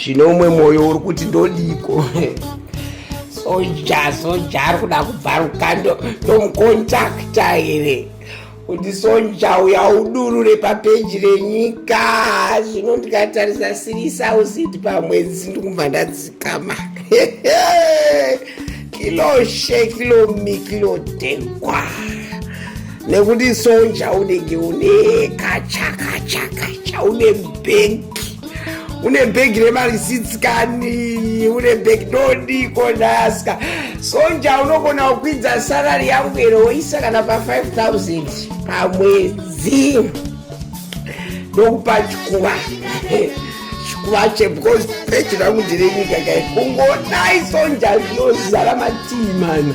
zvine umwe mwoyo uri kuti ndodiko soja soja ari kuda kubvaruka ndomukontakta here kuti soja uya udurure papeji renyika zvino ndikatarisa siri sausiti pamwedzi ndikubva ndatsikama kiloshe kilomi kilotekwa nekuti soja unenge une kachakachakacha une bhenki une bhegi remari sits kani une bhegi ndodiko ndaska sonja unogona kukwidza sarari yangu here woisa kana pa 5000 pamwedzi ndokupa chikuva chikuva che because bhegi rangu ndire nyika kai kungodai sonja zvinozara matii mana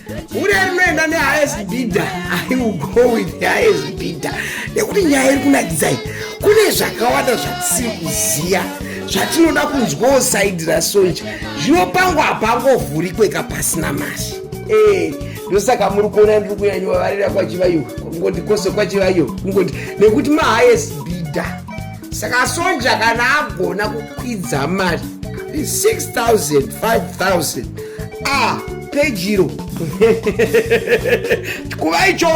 hure rinoenda nehighest bidder i will go with the highest bidder nekuti nyaya iri kunakidzai kune zvakawanda zvatisiri kuziva zvatinoda kunzwawo saidi rasoja zvinopangwa hapangovhurikwe kapasina mari eh, ndosaka muri kuona ndiri kunyanyovavarira kwachivaiwa kungoti kose kwachivaiwa kungoti nekuti mahighest bidder saka sonja kana agona kukwidza mari 6000 5000 a pejiro kuva icho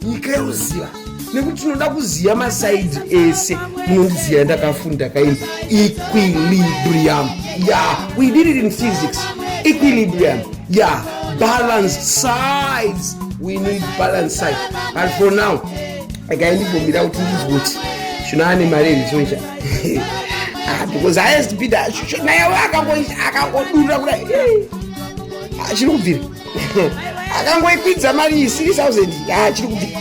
nyika yoziva nekuti tinoda kuziva masaidi ese munondiziva ndakafunda kaini equilibrium ya we did it in physics equilibrium ya balance sides we need balance side but for now regai ndimbombira kuti ndizwe kuti zvino ane mari here choicha ah, because highest bidder naye akangodurira kuda ah, chiri kubvira akangoikwidza mari 3000 chiri kubvira